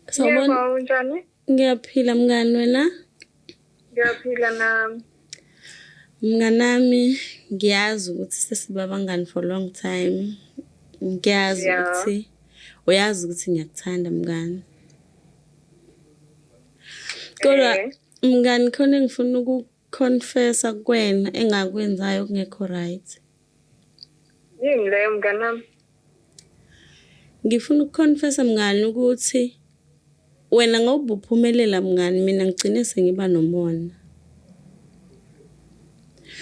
Sawubona. Yebo, unjani? Ngiyaphila mngani wena? Ngiyaphila nami. Mnganami ngiyazi ukuthi sesiba abangani for long time. Ngiyazi yeah. ukuthi uyazi ukuthi ngiyakuthanda mngani. Kodwa eh. mngani khona engifuna Confessa kuwena engakwenzayo okungekho right. Yini leyo mnganami? Ngifuna ukuconfessa mngani ukuthi wena ngoba uphumelela mngani mina ngigcine sengiba nomona.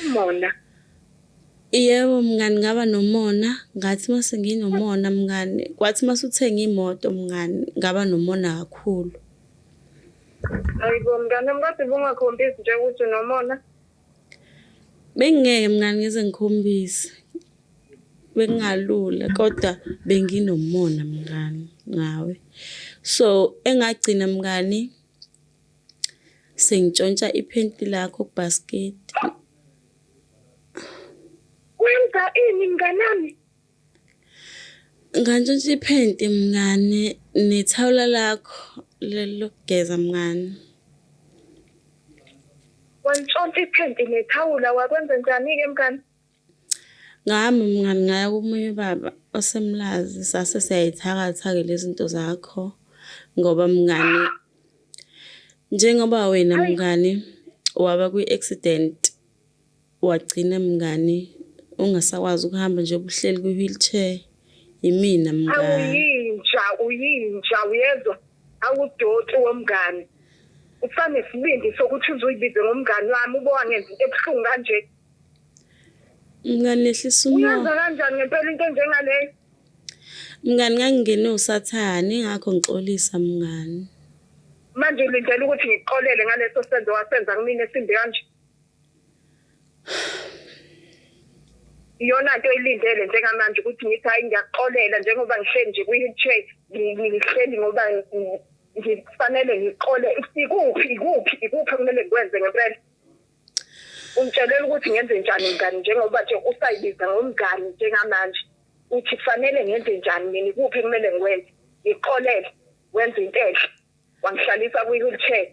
Umona? Yebo mngani ngaba nomona, ngathi uma senginomona mngani, kwathi uma usuthenga imoto mngani ngaba nomona kakhulu. Hayibo mngane wami kodwa ubungakhombisi nje ukuthi unomona. Bengingeke mngane ngize ngikhombise. Bekungalula kodwa benginomona mngane ngawe. So engagcina mngani sengitshontsha iphenti lakho kubhasketi. Wenza ini mnganami? Ngantshontsha iphenti mngani nethawula lakho leli lokugeza mngani. Wantshontsha iphenti nethawula wakwenza njani-ke mngani? Ngami mngani ngaya komunye ubaba osemlazi sase siyayithakatha-ke lezi zinto zakho ngoba mngani njengoba wena mngani waba kwi-accident Wagcina mngani ungasakwazi ukuhamba njengoba uhleli kwi wheelchair yimina mngani. Awuyinja uyinja uyezwa awudoti womngani usanesibindi sokuthi uzuyibize ngomngani wami ube wangenza into ebuhlungu kanje. Mngani yehlisa umoya. Uyenza kanjani ngempela into enjengaleyo? Mngani ngangingene usathane ingakho ngixolisa mngani. Manje ulindele ukuthi ngikuxolele ngaleso senzo wasenza kumina esimbi kanje? iyona nto elindele njengamanje ukuthi ngithi hayi ngiyaxolela njengoba ngihleli nje kwi-wheelchair ngihleli ngoba ngifanele ngixole ikuphi ikuphi ikuphi okumele ngikwenze ngempela ungitshelela ukuthi ngenze njani mngani njengoba nje usayibiza ngomngani njengamanje uthi kufanele ngenze njani mina ikuphi kumele ngikwenze ngixolele wenze into enhle wangihlalisa kwi-wheelchair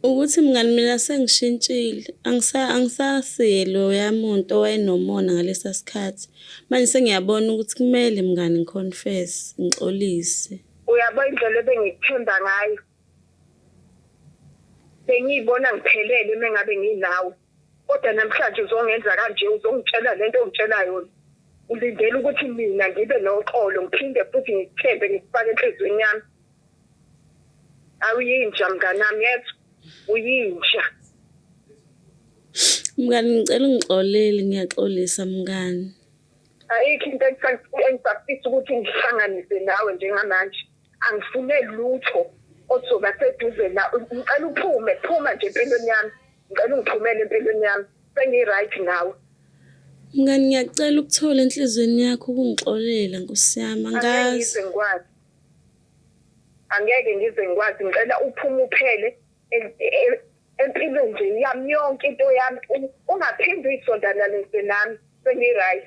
ukuthi mngani mina sengishintshile angisa angisasiye loya muntu owayenomona ngalesa sikhathi manje sengiyabona ukuthi kumele mngani ngiconfess ngixolise uyabo indlela ebengikuthemba ngayo bengiyibona ngiphelele mengabe nginawe Kodwa namhlanje uzongenza kanje uzongitshela lento ongitshela yona. Ulindele ukuthi mina ngibe noxolo ngiphinde futhi ngikuthembe ngikufake enhlizweni yami. Awuyinja mnganami yezwa uyinja. Mngani ngicela ungixolele ngiyaxolisa mngani. Ayikho into engifisa ukuthi ngihlanganise nawe njengamanje. angifune lutho ozoba seduze na ngicela uphume phuma nje empilweni yami ngicela ungiphumele empilweni yami sengi-right nawe mngani ngiyacela ukuthola enhliziyweni yakho ukungixolela nkosi yami angazi ngikwazi angeke ngize ngikwazi ngicela uphume uphele empilweni nje yami yonke into yami ungaphinde uyisondana lese nami sengi-right